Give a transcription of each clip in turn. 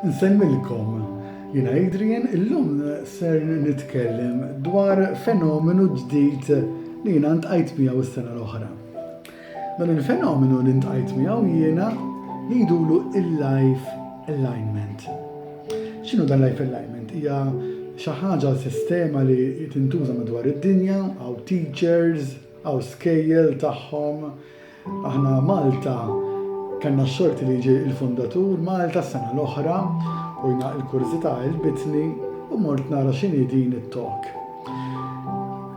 Nsemmilkom jina Adrian, illum ser nitkellem dwar fenomenu ġdid li jina ntqajt miegħu s-sena l-oħra. Dan il-fenomenu li ntqajt miegħu jiena li jdulu il-life alignment. X'inhu dan life alignment? Hija xi ħaġa sistema li tintuża madwar id-dinja, għaw teachers, għaw skejjel tagħhom, Aħna Malta kellna s-sorti li ġie il-fundatur Malta s-sena l-oħra u jna il-kurżità għelbitni u mort nara x'inhi din it-talk.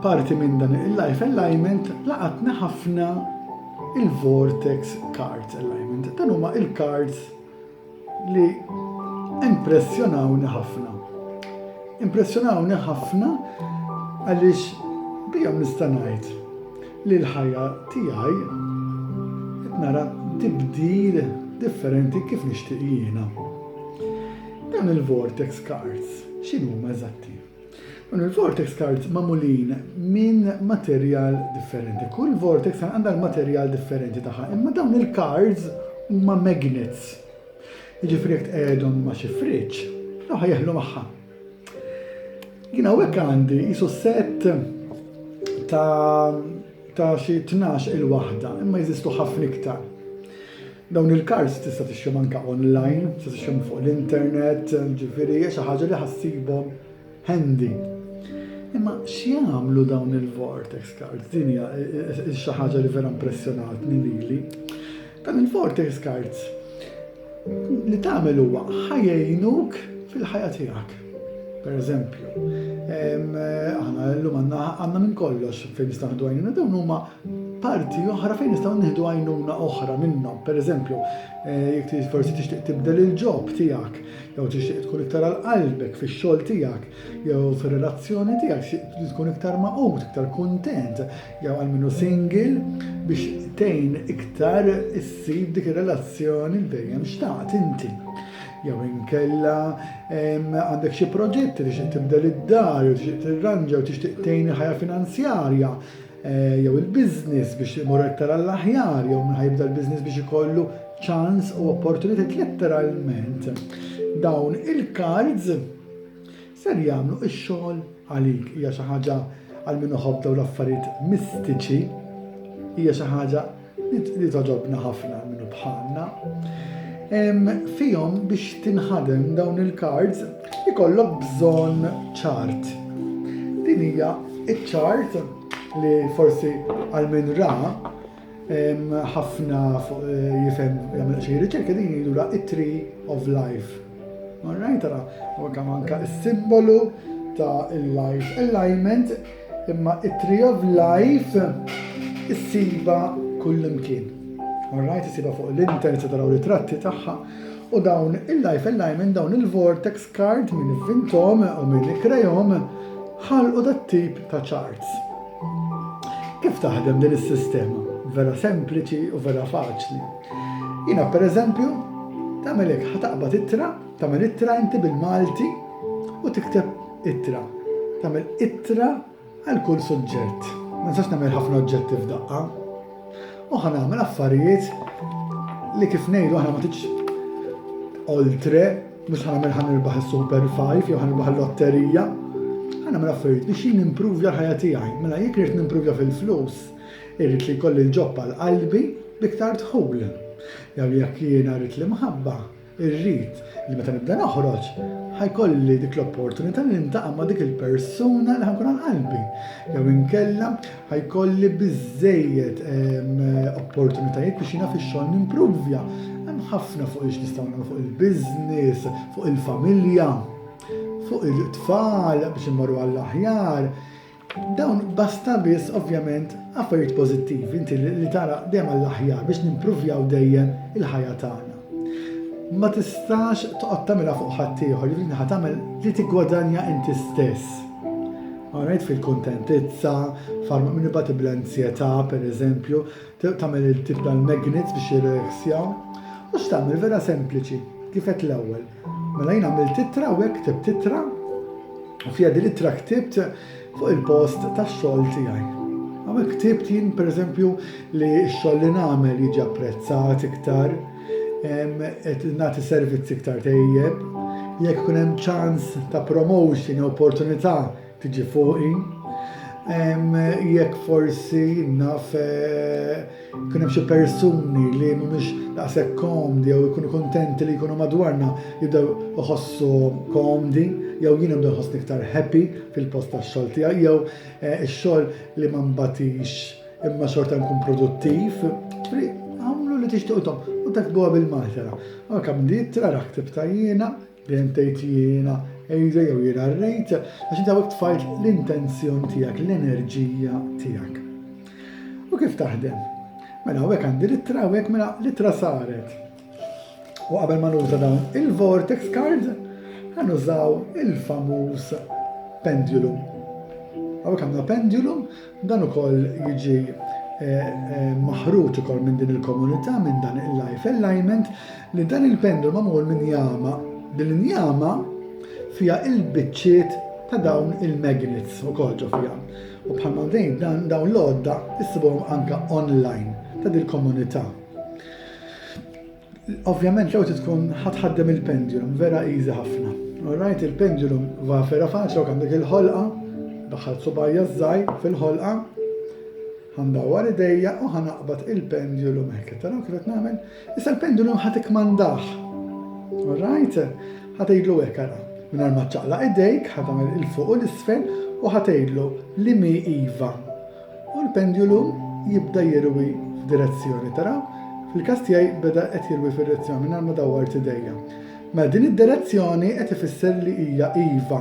Parti minn dan il-life alignment laqatni ħafna il-vortex cards alignment. Dan huma il-cards li impressjonawni ħafna. Impressjonawni ħafna għaliex bihom nista' ngħid li l-ħajja tiegħi qed nara tibdil differenti kif nixtieq jiena. Dan il-vortex cards x'inhuma eżatti? Dawn il-vortex cards magħmulin minn materjal differenti. Kull vortex card għandha l-materjal differenti tagħha, imma dawn il-cards huma magnets. Jiġifieri jekk tqegħedhom ma' xi friġġ, raħa jeħlu magħha. Jien hawnhekk għandi jisu set ta' ta' xi tnax il-waħda, imma jeżistu ħafna iktar. Dawn il-cards tista' tixtrihom anke online, tista' tixtrihom fuq l-internet, ġifieri hija xi ħaġa li ħassibhom handy. Imma x'jagħmlu dawn il-vortex cards? Din hija xi ħaġa li vera impressjonatni lili. Dan il-Forte Scards li tagħmel huwa ħajjinuk fil-ħajja tiegħek. Per eżempju, aħna llum għandna minn kollox fejn nistgħu nieħdu għajnuna dawn huma parti oħra fejn nistgħu nieħdu għajnuna oħra minnhom. Per eżempju, eh, jekk forsi tixtieq tibdel il-ġob tiegħek, jew tixtieq tkun iktar għal qalbek fix-xogħol tiegħek, jew fir-relazzjoni tiegħek, tkun iktar maqut, iktar kuntent, jew għal minnu singil biex tejn iktar issib dik ir-relazzjoni li dejjem xtaqt inti. Jew inkella għandek xi proġetti li xi tibdel id-dar, jew tixtieq tirranġa, jew tixtieq tejn ħajja finanzjarja, eh, jew il-biznis biex imur iktar għall-aħjar, jew minn ħajbda l-biznis biex ikollu ċans u opportunitet letteralment. Dawn il-cards Ser jagħmlu x-xogħol għalik. Hija xi ħaġa għal min iħobb dawn l-affarijiet mistiċi. Hija xi ħaġa li togħġobna ħafna għal min bħalna. Fihom biex tinħadem dawn il-cards ikollok bżonn ċart. Din hija ċ-ċart li forsi għal min ra ħafna fuq eh, jifhem jagħmel xi riċerka din jidura it-tree of life. Alright, ara, anka manka s-simbolu ta' il-life alignment imma it-tree of life issiba kullimkien. Alright, issiba fuq l-internet se taraw ritratti tagħha u dawn il-life alignment dawn il-vortex card minn vintom u minn krejom ħalqu dat-tip ta' charts. Kif taħdem din is-sistema? Vera sempliċi u vera faċli. Jina per eżempju, tagħmel hekk ħataqbad ittra, tagħmel ittra inti bil-Malti u tikteb ittra. Tagħmel ittra għal kull suġġett. Ma nistax nagħmel ħafna oġġetti f'daqqa. U ħa nagħmel affarijiet li kif ngħidu aħna ma titx oltre mhux ħa nagħmel ħan irbaħ is-super 5 jew ħan irbaħ l-lotterija. Ħa nagħmel affarijiet biex jien nimpruvja l-ħajja tiegħi. Mela jekk irid nimpruvja fil-flus, irrid li jkolli l-ġobba l-qalbi biktar tħul. Jew jekk jiena rrid l-imħabba, Irrid li meta nibda noħroġ, ħa jkolli dik l-opportunità li niltaqa' ma' dik il-persuna li ħa nkun għal qalbi. Jew inkella ħa jkolli biżżejjed ehm, opportunitajiet biex jiena fix-xogħol nimpruvja. Hemm ħafna fuq ix nistgħu nagħmlu fuq il-business, fuq il-familja, fuq it-tfal biex immorru għall-aħjar. Dawn basta biss ovvjament affarijiet pożittivi inti li tara dejjem għall-aħjar biex nimpruvjaw dejjem il-ħajja tagħna. Ma tistax toqgħod tagħmilha fuq ħadd ieħor, jiġifieri ħa tagħmel li tiggwadanja inti stess. Għanajt fil-kontentizza, farma minn ibati bl-anzjetà, per eżempju, tagħmel il-tip tal-magnets biex jirreksjaw. U x'tagħmel vera sempliċi, kifet l-ewwel, Mela jien għamilt ittra u hekk ktibt ittra u fiha din ittra ktibt fuq il-post tax-xogħol tiegħi. Għamil ktibt jien pereżempju li x-xogħol li nagħmel jiġi apprezzat iktar, qed nagħti servizz iktar tejjeb, jekk kun hemm ċans ta' promotion opportunità Tiġi fuqi. Jekk forsi naf kun hemm xi persuni li mhumiex daqshekk komdi jew ikunu kontenti li jkunu madwarna jibdew iħossu komdi jew jien nibdew nħossni iktar happy fil-post tax-xogħol tiegħi jew eh, ix-xogħol li ma mbatix imma xorta nkun produttiv. Għamlu li tixtuqtom u takbuha bil-maħtera. Għakam di tra raħtib tajjina Dejjem tgħid jiena Ejza jew jiena rrejt għax inti hawnhekk tfajt l-intenzjon tiegħek, l-enerġija tiegħek. U kif taħdem? Mela hawnhekk għandi l-ittra hawnhekk mela l-ittra saret. U qabel ma nuża dawn il-vortex card, għanużaw il-famuż pendulum. Għawek għamna pendulum Dan ukoll jiġi maħruġ ukoll minn din il-komunità minn dan il-life alignment li dan il-pendlu magħmul minn jama. Din il-jama fija il-biċċiet ta' dawn il-magnets u kolġu fija. U bħalma dejn dan dawn l-odda jissibhom anka online ta' dil-komunità. Ovvjament l-ewwel trid tkun ħadd ħaddem il-pendulum, vera easy ħafna. Alright, il-pendulum va vera faċli u għandek il-ħolqa, daħħal subajja żgħir fil-ħolqa, ħandawar idejja u ħanaqbad il-pendulum hekk. Taraw kif qed nagħmel? Issa l-pendulum ħadd ikmandah. Alright? Ħadd jgħidlu hekk ara. Mingħajr ma ċaqla idejk, ħadd tagħmel il-fuq u l-isfel u ħadd jgħidlu li mi iva U l-pendulum jibda jirwi f'direzzjoni, taraw? Fil-każ tiegħi beda qed jirwi fid-direzzjoni mingħajr ma dawwart idejja. Mela din id-direzzjoni qed ifisser li hija iva.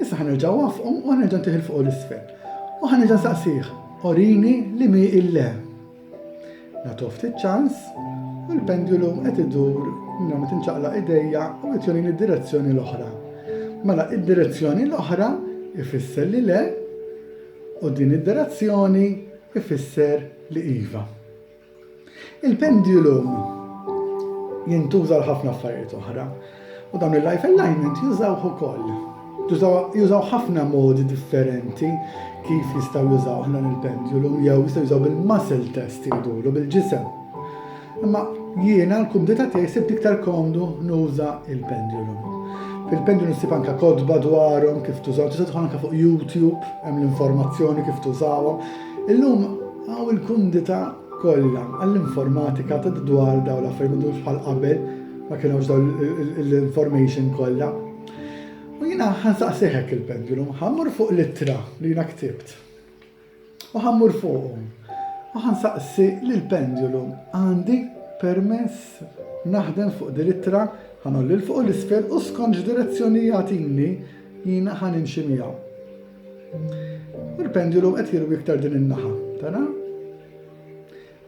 Issa ħanerġa' wafqu u ħanerġa' ntih il fuq u l-isfel. U ħanerġa' nsaqsih, orini li mi il-le. Nagħtuh ftit ċans u l-pendulum qed idur minn ma tinċaqla idejja u qed jurini d-direzzjoni l-oħra. Mela id-direzzjoni l-oħra ifisser li le u din id-direzzjoni ifisser li iva. Il-pendulum jintuża l-ħafna affarijiet oħra. U dawn il-life alignment jużawh ukoll. Jużaw ħafna modi differenti kif jistaw jużaw ħna il-pendulum jew jistaw jużaw bil-muscle test jgħidulu bil-ġisem. Imma jiena l-kumdita tiegħi sibt iktar komdu nuża il-pendulum. Fil-pendulum sib anka kodba dwarhom kif tużaw, tista' tħon anka fuq YouTube hemm l-informazzjoni kif tużawhom. Illum għaw il-kumdita kollha għall-informatika ta' dwar dawn l-affarijiet m'għadux bħal qabel ma kienux dawn l-information kollha. U jiena ħansaqsih hekk il-pendulum, ħammur fuq l-ittra li jiena ktibt. U ħammur fuqhom. U ħansaqsi li l-pendulum għandi permess naħdem fuq din l-ittra ħanolli l-fuq l-isfel u skont x'direzzjoni jagħtini jiena ħanimxi miegħu. U l-pendulum qed jirwi iktar din in-naħa, tara?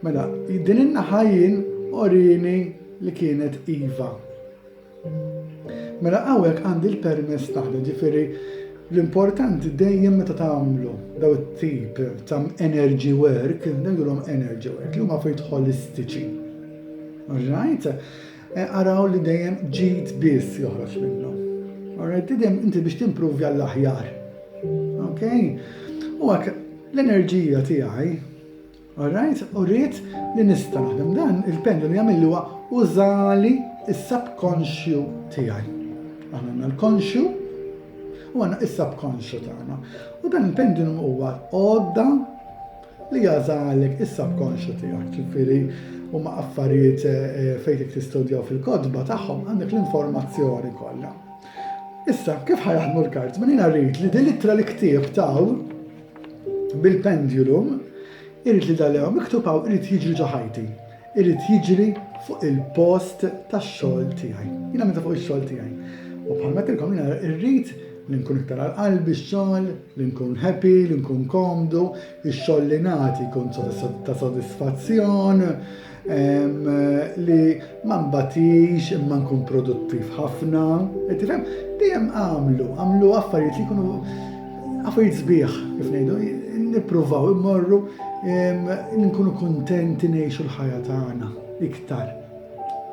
Mela, din in-naħa jien orini li kienet iva. Mela hawnhekk għandi l-permess taħda, ġifieri l-importanti dejjem meta tagħmlu daw it-tip ta' energy work, ngħidulhom energy work, li huma fejn tħolistiċi. Right? Eh, araw li dejjem ġid biss joħroġ minnu. Alright, dejjem inti biex timprovja għall-aħjar. Ok? U għak l-enerġija tiegħi, alright, u rrit li nista' naħdem dan il-pendu li għamillu huwa użali is-subconsciu tiegħi. Għanna l-konxju u għanna is-subconsciu tagħna. U dan il-pendulum huwa għodda Li jagħżha għalhekk is-subconscious tiegħek, ġifieri huma affarijiet eh, fejn dik tistudjaw fil-kotba tagħhom għandek l-informazzjoni kollha. Issa, kif ħajaħdmu l-kart? Min jiena rrid li din l-ittra li ktieb taw bil-pendulum irrid li dal-ew miktub hawn irrid jiġri ġo ħajti. irid jiġri fuq il-post tax-xogħol tiegħi. Jiena meta fuq ix-xogħol tiegħi. U bħalma qedtilkom jiena rrid li nkun iktar għal qalbi x-xogħol, li nkun happy, li nkun komdu, ix-xogħol li nagħti jkun ta' sodisfazzjon, li ma mbatix imma nkun produttiv ħafna. Qed tifhem? Dejjem għamlu, għamlu affarijiet li jkunu Affarijiet sbieħ, kif ngħidu, nippruvaw immorru nkunu kuntenti ngħixu l-ħajja tagħna iktar.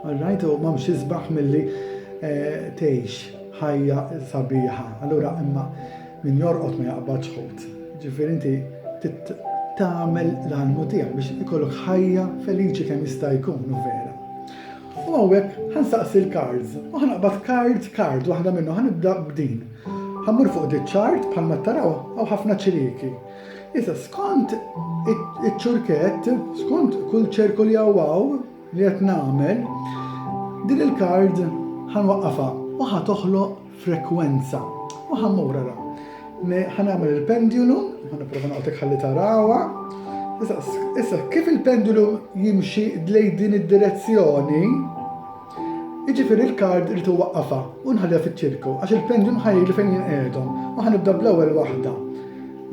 All right, u m'hemmx isbaħ milli eh, tgħix ħajja sabiħa. Allura imma min jorqod ma jaqbad xħut. Ġifieri inti tagħmel l-għalmu tiegħek biex ikollok ħajja feliċi kemm jista' jkun u vera. U hawnhekk ħansaqsi l-cards, u ħanaqbad card card waħda minnu ħanibda b'din. Ħa mmur fuq di ċart bħalma taraw hawn ħafna ċiriki. Issa skont iċ-ċurkett, skont kull ċerku li hawn li qed nagħmel, din il-kard ħanwaqqafha u ħa toħloq frekwenza. U ħammura ra. Ħanagħmel il-pendulum, ħanipprova naqgħodek ħalli tarawha. Issa kif il-pendulum jimxi dlej din id-direzzjoni, Jiġifieri l-card irid iwaqqafha u nħalliha fiċ-ċirku għax il-pendulum ħa jgħidli fejn jien qiegħedhom. U ħa nibda bl-ewwel waħda.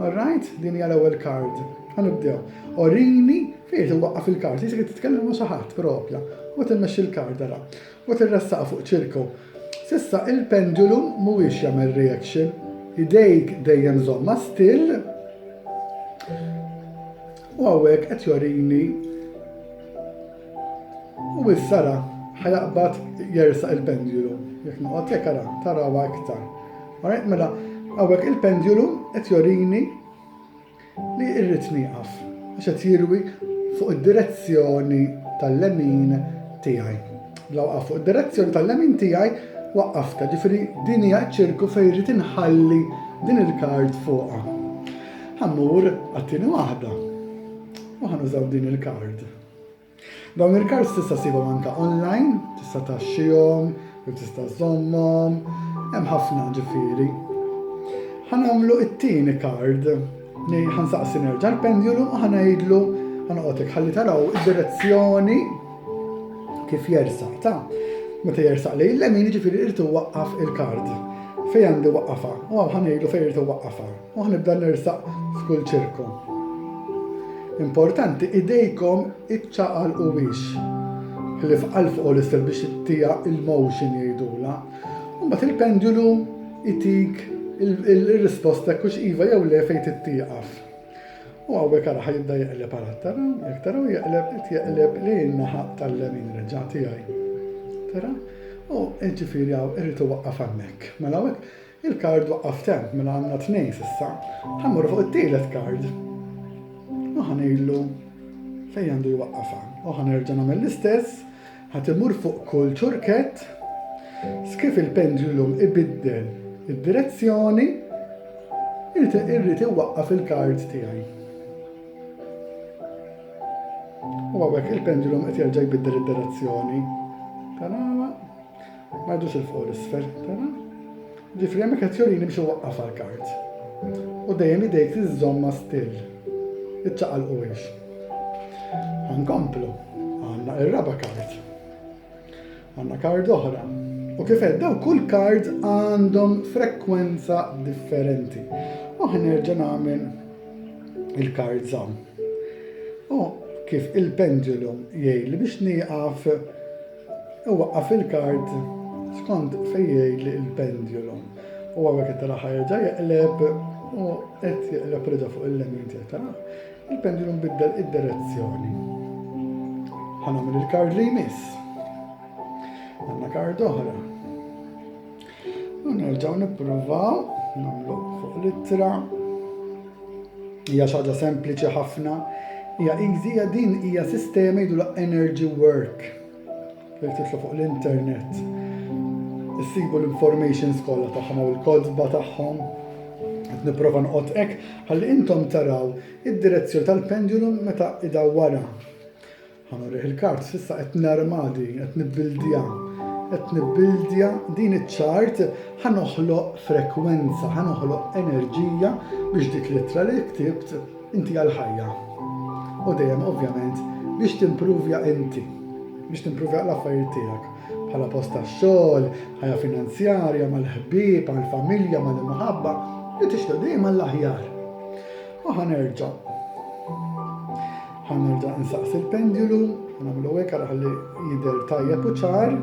All right? Din hija l-ewwel card. Ħa nibdew. Orini fejn irid iwaqqaf il-card. Jisek titkellem ma' xi ħadd propja. U timmexxi l-card ara. U tirressaqha fuq ċirku. Sissa il-pendulum mhuwiex jagħmel reaction. Idejk dejjem żomma still. U hawnhekk qed jorini U issa ra, ħajaqbad jersaq il-pendjulu. Jekk noqgħod jekk ara, tarawa iktar. Alright, mela, hawnhekk il-pendjulu qed jorini li irrid nieqaf għax qed jirwi fuq id-direzzjoni tal-lemin tiegħi. Bla waqaf fuq id-direzzjoni tal-lemin tiegħi waqqafta, ġifieri din hija ċirku fejn irid inħalli din il-kard fuqha. Ħammur għattini waħda u ħanużaw din il-kard. Dawn il-cards tista' ssibhom anke online, tista' taxxihom, jew tista' żommhom, hemm ħafna ġifieri. Ħanamlu it-tieni card, ħansaqsi nerġa' l-pendulum u ħanajdlu ħanqotek ħalli taraw id-direzzjoni kif jersaq ta' meta jersaq li l-lemin ġifieri irtu waqqaf il-kard. Fej għandi waqqafa, u għaw ħanejlu fej irtu waqqafa. U nibda nersaq f'kull ċirku. Importanti idejkom iċċaqalqu biex ħlief għal fuq u l-isfel biex ittija il-motion jgħidula. U mbagħad il-pendulu itik il-risposta jekk hux iva jew le fejn tittieqaf. U għawek għara ħajibda jaqleb għara tara, jek tara u jaqleb, jaqleb li naħa tal-lemin reġa tijaj. Tara? U ġifiri għaw irritu waqqa fannek. Mela għawek, Il-card waqqaf temp mela għandna tnejn s'issa. Ħa mmorru fuq it-tielet card. U ħa ngħidlu fejn għandu jwaqqafha. U ħa nerġa' nagħmel l-istess, ħa timur fuq kull ċurkett. Skif il-pendulum ibiddel id-direzzjoni, irrid iwaqqaf il-card tiegħi. U għawek il-pendulum qed jerġa' jbiddel id-direzzjoni. Tanama. Ma jdux il fuq l-isfel, tara? Ġifri hemmhekk qed jorini biex iwaqqaf għall-kart. U dejjem idejk tiżżomma still. Iċċaqalquwiex. Ħankomplu. Għandna ir-raba' kart. Għandna kard oħra. U kif qed daw kull kard għandhom frekwenza differenti. U ħanerġa' nagħmel il-kard żamm. U kif il-pendulum jgħid li biex nieqaf Iwaqqaf il-kard skont fejn jgħidli il-pendulum. U għawek qed taraħ jerġa' jeqleb u qed jeqleb reġa' fuq il-lemin tiegħi taraħ. Il-pendulum biddel id-direzzjoni. Ħanagħmel il-kard li jmiss. Għandna kard oħra. U nerġgħu nippruvaw nagħmlu fuq l-ittra. Hija xi ħaġa sempliċi ħafna. Hija easy din hija sistema jidulha energy work. Jekk titlu fuq l-internet. Issibu l-informations kollha tagħhom u l-kodba tagħhom. Qed nipprova noqgħod hekk ħalli intom taraw id-direzzjoni tal-pendulum meta idawwara. Ħa nurih il-kards, issa qed narma din, qed nibbildiha. Qed nibbildiha din iċ-ċart ħa noħloq frekwenza, ħa noħloq enerġija biex dik l-ittra li ktibt inti għal ħajja. U dejjem ovvjament biex timpruvja inti, biex timpruvja l-affarijiet tiegħek bħala post tax-xogħol, ħajja finanzjarja, mal-ħbieb, mal-familja, mal-imħabba, li tixtieq dejjem għall-aħjar. U ħanerġa' Ħa nerġa' insaqsi l-pendjulu, nagħmlu hekk għal ħalli jidher tajjeb u ċar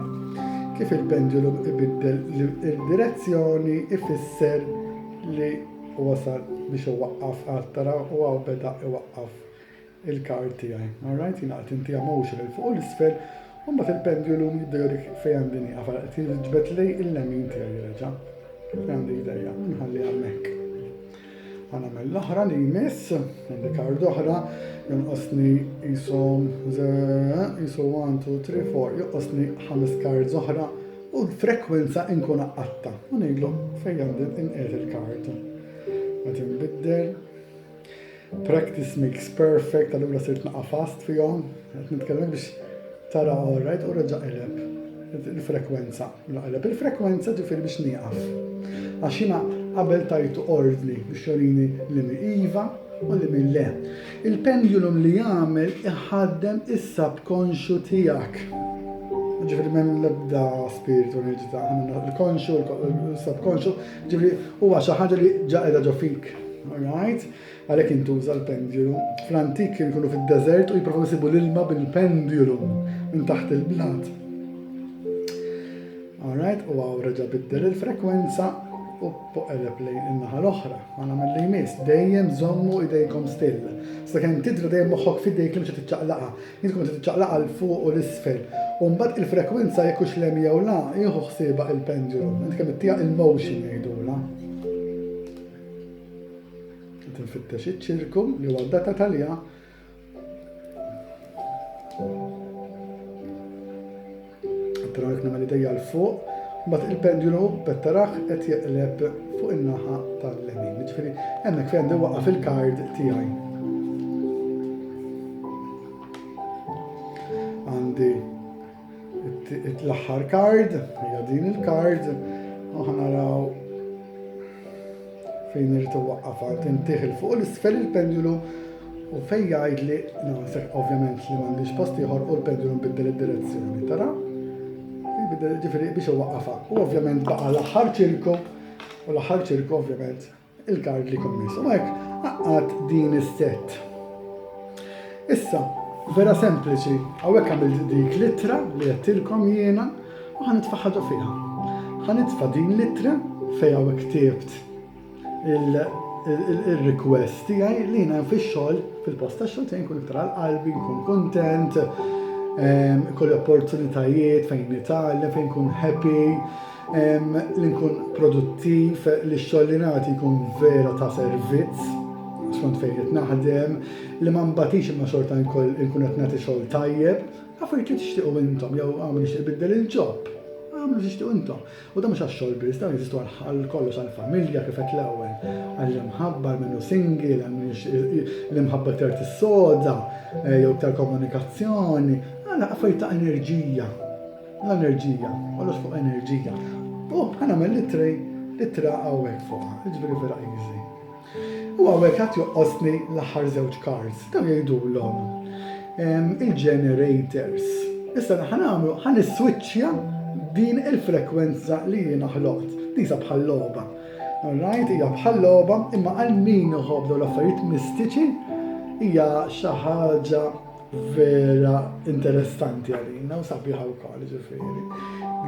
kif il-pendjulu ibiddel il-direzzjoni ifisser li wasal biex iwaqqaf għad tara u għaw beda iwaqqaf il-kar tiegħi. Alright, jina qed inti għamux il fuq u l-isfel, u mbagħad il-pendjulu jidher fejn għandi nieqaf għal qed jiġbed lej il-lemin tiegħi reġa'. Kif għandi jdejja, nħalli hemmhekk. Għana mill-oħra li jmiss, għandi kard oħra, jonqosni jisom, jisom 1, 2, 3, 4, jonqosni ħames kard oħra u l-frekwenza inkun għatta. U ngħidlu fejn għandi inqed il-kard. Qed inbiddel. Practice makes perfect, allura sirt naqa' fast fihom. Qed nitkellem biex tara all right u reġa' qileb il-frekwenza. Naqleb il-frekwenza ġifieri biex nieqaf. Għax jiena qabel tajtu ordni biex jorini li min iva u li min le. Il-pendulum li jagħmel iħaddem is-subkonxju tiegħek. Ġifieri m'hemm l-ebda spirtu li ġita l-konxju, l-subkonxju, ġifieri huwa xi ħaġa li ġa qiegħda ġo fik. Alright? Għalhekk jintuża l-pendulum. Fl-antik kienu jkunu fid-deżert u jipprovaw isibu l-ilma bil-pendulum minn taħt il-blat. Alright, u għaw reġa biddel il-frekwenza u poqeleb lejn in-naħa l-oħra. Għana mill-li jmiss, dejjem zommu idejkom still. Sta kem tidra dejjem moħħok fidejk li mxa titċaqlaqa. Jintkom se titċaqlaqa l-fuq u l-isfel. U mbagħad il-frekwenza jekk hux lem jew la, jieħu ħsieba il-pendulum. Int kemm ittija il-motion jgħidula. Qed infittex iċ-ċirku li huwa data talija. Taraw jekk nagħmel idejja l fuq, mbagħad il-pendulu bettaraħ qed jeqleb fuq in-naħa tal-lemin. Ġifieri hemmhekk fejn għandi waqaf il-kard tiegħi. Għandi L-aħħar kard, hija din il-kard, u ħanaraw fejn irrid iwaqqaf għal tintih il fuq l-isfel il-pendulu u fejn jgħid li naħseb ovvjament li m'għandix post ieħor u l-pendulu nbiddel id-direzzjoni, tara? Ġifieri biex iwaqqafha. U ovvjament baqa' l-aħħar ċirku u l-aħħar ċirku ovvjament il-kard li kommiss. U hekk għaqqad din is-set. Issa, vera sempliċi, hawnhekk għamil dik litra li għattilkom jiena u ħan nitfaħħadu fiha. Ħan nitfa' din litra fejn hawnhekk ktibt il-request tiegħi li jiena fix-xogħol fil-posta xogħol tiegħi nkun iktar qalbi, nkun kontent, ehm, kolli opportunitajiet fejn nitgħallem, fejn nkun happy. Li nkun produttiv, li x-xogħol li nagħti jkun vera ta' servizz, skont fejn qed naħdem, li ma mbatix imma xorta nkun qed nagħti xogħol tajjeb, affarijiet li tixtiequ intom jew għamlu nixtieq biddel il-ġob, għamlu tixtiequ intom. U dan mhux għax-xogħol biss, dan jeżistu għal kollox għall-familja kif qed l-ewwel, għall-imħabba, għal minnu single, għal l-imħabba iktar tissoda, eh, jew iktar komunikazzjoni, għal affarijiet ta' enerġija. L-enerġija, kollox fuq enerġija. U ħanamel l-tray, l-ittra għawek fuq, ġveri vera easy. U għawek għat joqqosni l-ħar zewċ cards, tam jgħidu l-om. Il-generators. Issa ħanamlu, ħan switchja din il-frekwenza li jina ħloqt. Disa bħal-loba. Alright, hija bħal-loba, imma għal min uħobdu l-affarijiet mistiċi, hija xaħġa vera interessanti għalina u sabiħa wkoll ġifieri.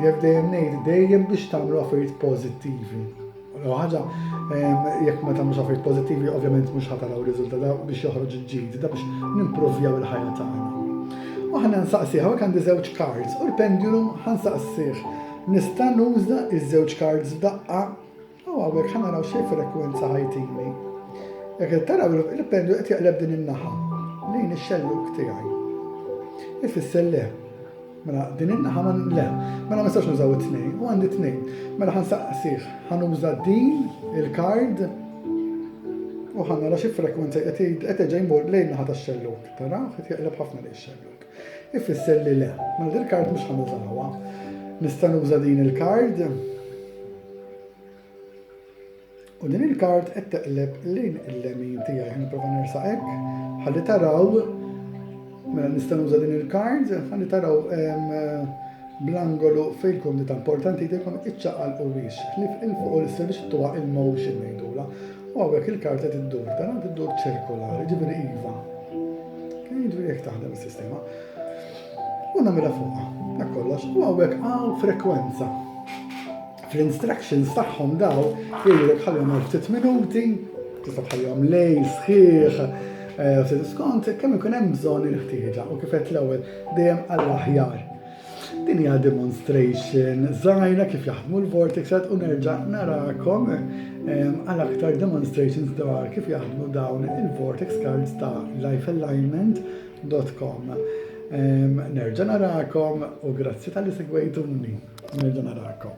Jekk dejjem ngħid dejjem biex tagħmlu affarijiet pożittivi. U ħaġa jekk ma tagħmlux affarijiet pożittivi ovvjament mhux ħataraw riżultata biex joħroġ il-ġid, da biex nimprovjaw il-ħajja tagħna. U ħana nsaqsi hawnhekk għandi żewġ cards u l-pendulum ħansaqsih nista' nuża iż-żewġ cards f'daqqa U hawnhekk ħa naraw xi frekwenza ħajtini. Jekk qed taraw il-pendlu qed jaqleb din in-naħa lejn ix-xelluk tiegħi. Ifisser le. Mela din in-naħa ma le, mela ma nistax nużaw it-tnejn, u għandi tnejn. Mela ħansaqsih, ħanuża din il-kard u ħanara xi frekwenza qed qed ġej mur lejn naħa tax-xelluk. Taraw qed jaqleb ħafna lejn ix-xelluk. Ifisser li le, mela din il-kard mhux ħanuża ħawa. Nista' nuża din il-kard. U din il-kard qed teqleb lejn il-lemin tiegħi ħin nipprova nersaq hekk. Ħalli taraw mela nista' nuża din il-kard, ħalli taraw bl-angolu fejn tkun li ta' importanti jtekom iċċaqal u wiex. Ħlif il-fuq u l-isfel biex tuwa il-motion ngħidula. U għawek il-karta tiddur, tara tiddur ċirkolari, ġibri iva. Kien ġibri jek taħdem il-sistema. U namela fuqa, dak kollox. U għawek għaw frekwenza. Fl-instructions tagħhom daw, jgħidlek ħallhom għal ftit minuti, tista' tħallhom lej, sħiħ, eh, u se diskont, kemm ikun hemm bżonn il-ħtieġa u kif qed l-ewwel dejjem għall-aħjar. Din hija demonstration żgħira kif jaħdmu l-vortex u nerġa' narakom ehm, għal aktar demonstrations dwar kif jaħdmu dawn il-vortex cards ta' lifealignment.com. Ehm, nerġa' narakom u grazzi tal-li segwejtuni. Nerġa' narakom.